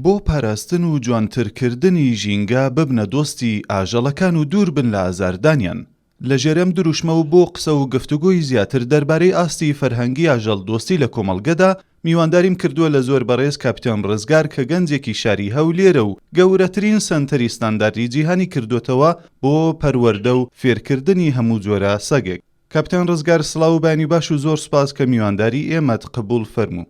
بۆ پاراستن و جوانترکردنی ژینگە ببنە دۆستی ئاژەڵەکان و دوور بن لە ئازاردانیان لە ژێر ئەم دروشمە و بۆ قسە و گفتوگۆی زیاتر دەربارەی ئاستی فەرهەنگی ئاژەڵ دۆستی لە کۆمەڵگەدا میوانداریم کردووە لە زۆر بەڕێز کاپیتان ڕزگار کە گەنجێکی شاری هەولێرە و گەورەترین سەنتەری ستانداردی جیهانی کردۆتەوە بۆ پەروەردە و فێرکردنی هەموو جۆرە سەگێک. کاپیتان ڕزگار سڵاو و بەیانی باش و زۆر سوپاس کە میوانداری ئێمەت قبوڵ فەرموو.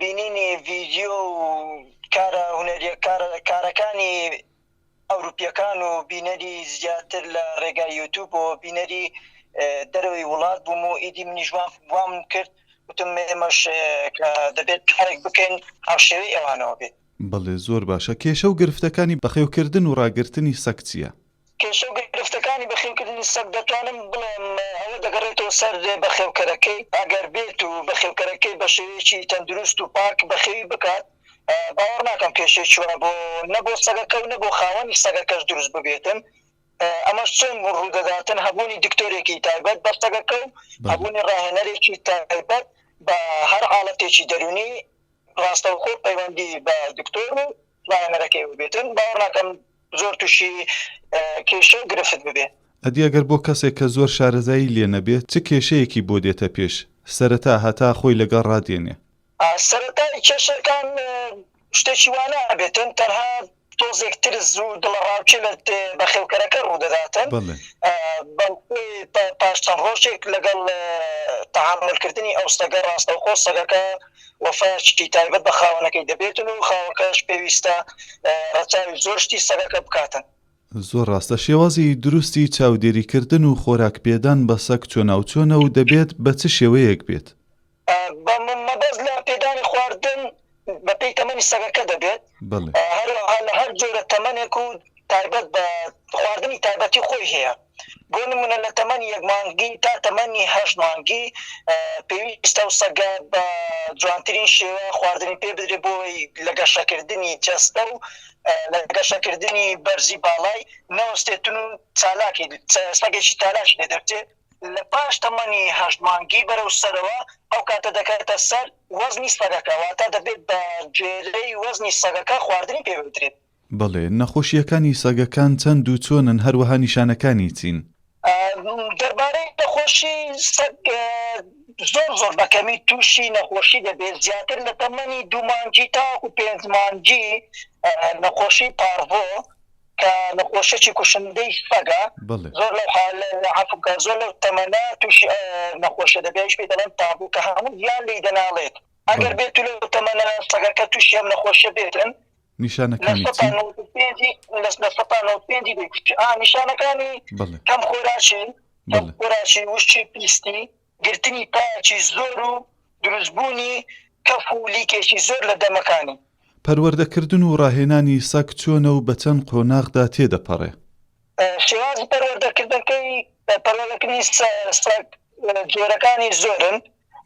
بینینی ڤیدیۆ و کارە هونەریە کارەکانی ئەوروپیەکان و بینەری زیاتر لە ڕێگای یوتوب و بینەری دەرەوەی وڵات بووم و ئیدی منیش وام کرد وتم ئێمەش دەبێت کارێک بکەین هاوشێوەی ئەوانەوە بێت. بەڵێ زۆر باشە، کێشە و گرفتەکانی بەخێوکردن و ڕاگرتنی سەگ چییە؟ کێشە و گرفتەکانی بەخێوکردنی سەگ دەتوانم بڵێم ئەوە دەگەڕێتەوە سەر بەخێوکەرەکەی، ئەگەر بێت و بەخێوکەرەکەی بە شێوەیەکی تەندروست و پاک بەخێوی بکات، باوەڕ ناکەم کێشەیەکی وا بۆ نە بۆ سەگەکە و نە بۆ خاوەنی سەگەکەش دروست ببێتن. ئەمەش چۆن ڕوودەداتن، هەبوونی دکتۆرێکی تایبەت بە سەگەکە و هەبوونی ڕاهێنەرێکی تایبەت بە هەر حاڵەتێکی دەروونی، ڕاستەوخۆ پەیوەندی بە دکتۆر و ڕاهێنەرەکەیەوە بێتن، باوەڕ ناکەم زۆر تووشی کێشە و گرفت ببێ. ئەدی ئەگەر بۆ کەسێک کە زۆر شارەزایی لێ نەبێ چ کێشەیەکی بۆ دێتە پێش سەرەتا هەتا خۆی لەگەڵ ڕادێنێ؟ سەرەتای کێشەکان شتێکی وا نابێتن، تەنها تۆزێک ترس و دڵەڕاوکێ لە بەخێوکەرەکە ڕوودەداتن بەڵکوی پاش چەند ڕۆژێک لەگەڵ تەعاملکردنی ئەو سەگە ڕاستەوخۆ سەگەکە وەفاشتی تایبەت بە خاوەنەکەی دەبێتن و خاوەکەش پێویستە ڕەچاوی زۆر شتی سەگەکە بکاتن زۆر ڕاستە شێوازی دروستی چاودێریکردن و خۆراک پێدان بە سەگ چۆناوچۆنە و دەبێت بە چ شێوەیەک بێت؟ بە مەبەست لە پێدانی خواردن بە پێی تەمەنی سەگەکە دەبێت، هەروەها لە هەر جۆرە تەمەنێک و تایبەت بە خواردنی تایبەتی خۆی هەیە، بۆ نموونە لە تەمەنی یەک مانگی تا تەمەنی هەشت مانگی پێویستە ئەو سەگە بە جوانترین شێوە خواردنی پێ بدرێت بۆ ئەوەی لە گەشەکردنی جەستە و لە گەشەکردنی بەرزی باڵای نەوەستێتن و چالاکی سەگێکی چالاکی لێ دەبچێت. لە پاش تەمەنی هەشت مانگی بەرەو سەرەوە ئەو کاتە دەکەوێتە سەر وەزنی سەگەکە واتە دەبێت بە گوێرەی وەزنی سەگەکە خواردنی پێ بدرێت. بەڵێ، نەخۆشییەکانی سەگەکان چەند و چۆنن هەروەها نیشانەکانی چین؟ دەربارەی نەخۆشی سەگ زۆر زۆر بە کەمی تووشی نەخۆشی دەبێت زیاتر لە تەمەنی دوو مانگی تاوەکو پێنج مانگی نەخۆشی پارڤۆ کە نەخۆشیەکی کوشندەی سەگە زۆر لەو حالە عەفوم کە زۆر لەو تەمەنە توشی نەخۆشیە دەبێ ئەویش پێی دەڵێن تابو کە هەموو گیان لێی دەناڵێت ئەگەر بێتو لەو تەمەنە سەگەکە توشی ئەم نەخۆشیە بێتن لە سەتا نەوەد و پێنجی لە سەتا نەوەد و پێنجی دەیکوژێ ئا نیشانەکانی کەم خۆراکی کەم خۆراکی وشکی پیستی. گرتنی پایەکی زۆر و دروست بوونی کەف و لیکێکی زۆر لە دەمەکانی. پەروەردەکردن و ڕاهێنانی سەگ چۆنە و بە چەند قۆناغدا تێدەپەڕێ؟ شێوازی پەروەردەکردنەکەی، پەروەردەکردنی سەگ جۆرەکانی زۆرن،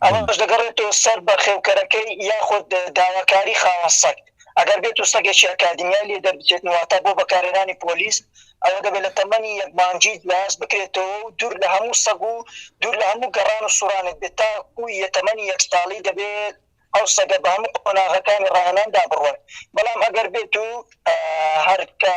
ئەمەش دەگەڕێتەوە سەر بەخێوکەرەکەی یاخود داواکاری خاوەن سەگ. ئەگەر بێتو سەگێکی ئەکادیمیای لێ دەربچێت واتە بۆ بەکارهێنانی پۆلیس، ئەوە دەبێت لە تەمەنی یەک مانگی لاس بکرێتەوە و دوور لە هەموو سەگ و دوور لە هەموو گەڕان و سوڕانێک بێت تاکو یە تەمەنی یەک ساڵی دەبێت ئەو سەگە بە هەموو قۆناغەکانی ڕاهێناندا بڕوات بەڵام ئەگەر بێتو هەر کە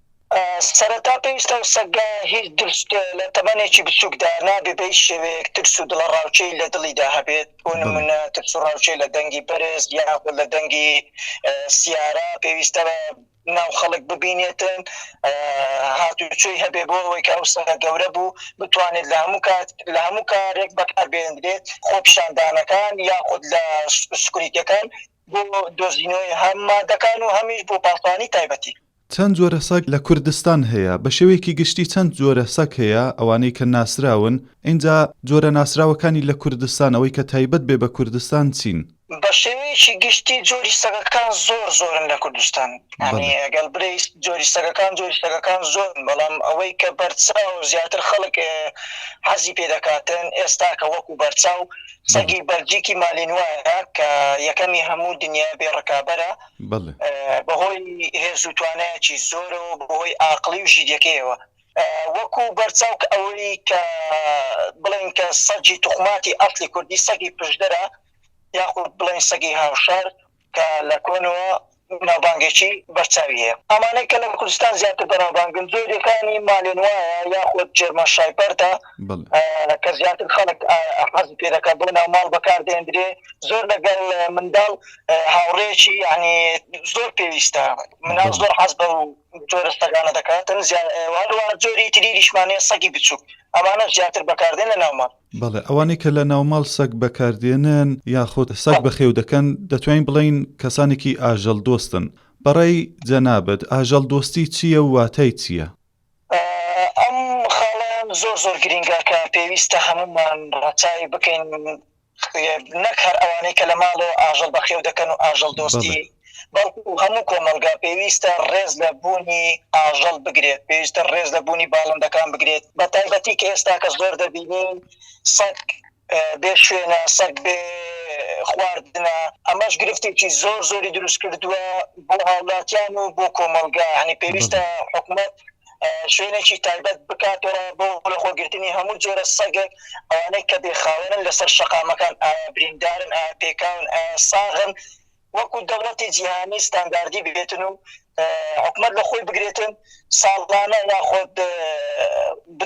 سەرەتا پێویستە ئەو سەگە هیچ درشت لە تەمەنێکی بچووکدا نابێ بە هیچ شێوەیەک ترس و دڵەڕاوکێی لە دڵیدا هەبێت، بۆ نموونە ترس و ڕاوکێ لە دەنگی بەرز یاخود لە دەنگی سیارە، پێویستە ناو خەڵک ببینێتن، هاتوچۆی هەبێ بۆ ئەوەی کە ئەو سەگە گەورە بوو بتوانێت لە هەموو کات لە هەموو کارێک بەکاربهێندرێت، خۆپیشاندانەکان یاخود لە سکوریتییەکان بۆ دۆزینەوەی هەم مادەکان و هەمیش بۆ پاسەوانی تایبەتی. چەند جۆرە سەگ لە کوردستان هەیە؟ بە شێوەیەکی گشتی چەند جۆرە سەگ هەیە ئەوانەی کە ناسراون؟ ئینجا جۆرە ناسراوەکانی لە کوردستان ئەوەی کە تایبەت بێ بە کوردستان چین؟ بە شێوەیەکی گشتی جۆری سەگەکان زۆر زۆرن لە کوردستان یانی ئەگەر برێیس جۆری سەگەکان جۆری سەگەکان زۆرن بەڵام ئەوەی کە بەرچاو زیاتر خەڵک حەزی پێ دەکاتن ئێستاکە وەکوو بەرچاو سەگی بەلجیکی مالینوایە کە یەکەمی هەموو دنیای بێ ڕکابەرە بەهۆی هێز و توانایەکی زۆرەوە بەهۆی ئاقلی و ژیریەکەیەوە وەکو بەرچاوک ئەوەی کە بڵێن کە سەجی توخماتی ئەفلی کوردی سەگی پشدەرە یاخود بڵێن سەگی هاوشار کە لە کۆنەوە ناوبانگێکی بەرچاوی هەیە. ئەمانەی کە لە کوردستان زیاتر بەناوبانگن، زۆرێکانی مالێنوایا یاخود جێرمەن شایپەردە، کە زیاتر خەڵک حەزی پێ دەکات، بۆ ناوماڵ بەکار دەهێندرێ، زۆر لەگەڵ منداڵ هاوڕێیەکی یانی زۆر پێویستە، مناڵ زۆر حەز بەو جۆرە سەگانە دەکاتن، هەروەها جۆری تریشمان هەیە سەگی بچووک، ئەمانەش زیاتر بەکاردێن لە ناوماڵ. بەڵێ ئەوانەی کە لە ناوماڵ سەگ بەکاردێنن یاخود سەگ بەخێو دەکەن دەتوانین بڵێین کەسانێکی ئاژەڵ دۆستن، بەڕای جەنابت ئاژەڵ دۆستی چییە و واتای چییە؟ ئەم خاڵەیان زۆر زۆر گرینگە کە پێویستە هەموومان ڕەچاوی بکەین نەک هەر ئەوانەی کە لە ماڵەوە ئاژەڵ بەخێو دەکەن و ئاژەڵ دۆستی بەڵکو هەموو کۆمەڵگا پێویستە ڕێز لە بوونی ئاژەڵ بگرێت، پێویستە ڕێز لە بوونی باڵندەکان بگرێت، بە تایبەتی کە ئێستا کە زۆر دەبینین سەگ بێ شوێنە، سەگ بێ خواردنە، ئەمەش گرفتێکی زۆر زۆری دروست کردووە بۆ هاوڵاتیان و بۆ کۆمەڵگا، هەنی پێویستە حکومەت شوێنێکی تایبەت بکاتەوە بۆ لەخۆگرتنی هەموو جۆرە سەگێک ئەوانەی کە بێخاوێنن لەسەر شەقامەکان ئایا بریندارن ئایا پێکاون ئایا ساغن وەکو دەوڵەتی جیهانی ستانداردی ببێتن و حکومەت لە خۆی بگرێتن ساڵانە یاخۆد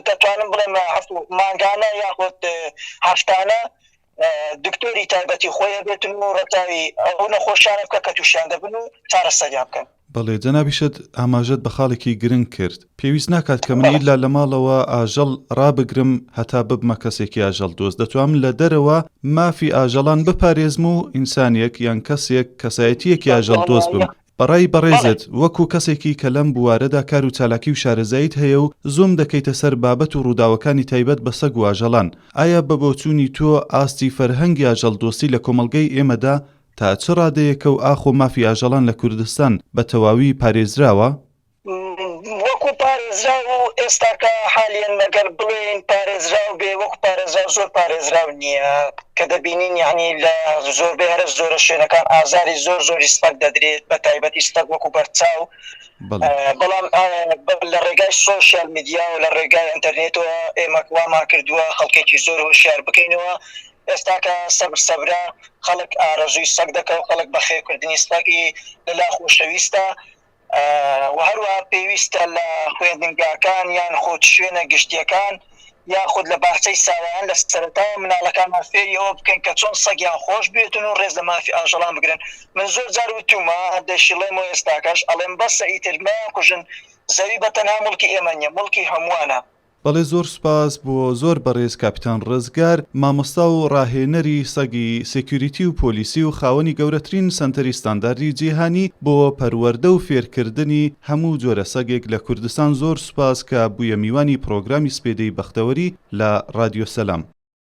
دەتوانم بڵێم مانگانە یاخۆد هەفتانە دکتۆری تایبەتی خۆی بێتن و ڕەتاوی ئەو نەخۆشیانە بکە کە تووشیان دەبن و چارەسەریان بکەن. بەڵێ جەنابی شێت ئاماژەت بە خاڵێکی گرنگ کرد، پێویست ناکات کە من ئیلا لە ماڵەوە ئاژەڵ ڕابگرم هەتا ببمە کەسێکی ئاژەڵ دۆست، دەتوانم لە دەرەوە مافی ئاژەڵان بپارێزم و ئینسانێک یان کەسێک کەسایەتییەکی ئاژەڵ دۆست بم. بەڕای بەڕێزت وەکو کەسێکی کە لەم بوارەدا کار و چالاکی و شارەزاییت هەیە و زووم دەکەیتە سەر بابەت و ڕووداوەکانی تایبەت بە سەگ و ئاژەڵان، ئایا بە بۆچوونی تۆ ئاستی فەرهەنگی ئاژەڵ دۆستی لە کۆمەڵگەی ئێمەدا تا چ ڕادەیەکە و ئاخۆ مافی ئاژەڵان لە کوردستان بە تەواوی پارێزراوە؟ وەکو پارێزراو و ئێستاکە حالیەن ئەگەر بڵێین پارێزراو بێ وەکو پارێزراو زۆر پارێزراو نییە کە دەبینین یانی لە زۆربەی هەرە زۆرە شوێنەکان ئازاری زۆر زۆری سپەگ دەدرێت بە تایبەتی سپەگ وەکو بەرچاو بەڵام لە ڕێگای سۆشیال میدیا و لە ڕێگای ئەنتەرنێتەوە ئێمە وامان کردووە خەڵکێکی زۆر هۆشیار بکەینەوە ئێستا کە سەبر سەبرە خەڵک ئارەزووی سەگ دەکەو خەڵک بەخێو کردنی سەگی لەلا خۆشەویستە وە هەروەها پێویستە لە خوێندنگاکان یان خود شوێنە گشتیەکان یان خود لە باخچەی ساوایان لە سەرەتا مناڵەکانمان فێری ئەوە بکەن کە چۆن سەگیان خۆش بێتن و ڕێز لە مافی ئاژەڵان بگرن من زۆر جار وتومە دەشیڵێم و ئێستاکەش ئەڵێم بەسە ئیتر مەیان کوژن زەوی بە تەنها موڵکی ئێمە نیە موڵکی هەمووانە بەڵێ زۆر سوپاس بۆ زۆر بەڕێز کاپیتان ڕزگار مامۆستا و ڕاهێنەری سەگی سێکیوریتی و پۆلیسی و خاوەنی گەورەترین سەنتەری ستانداردی جیهانی بۆ پەروەردە و فێرکردنی هەموو جۆرە سەگێک لە کوردستان زۆر سوپاس کە بوویە میوانی پڕۆگرامی سپێدەی بەختەوەری لە ڕادیۆ سەلام.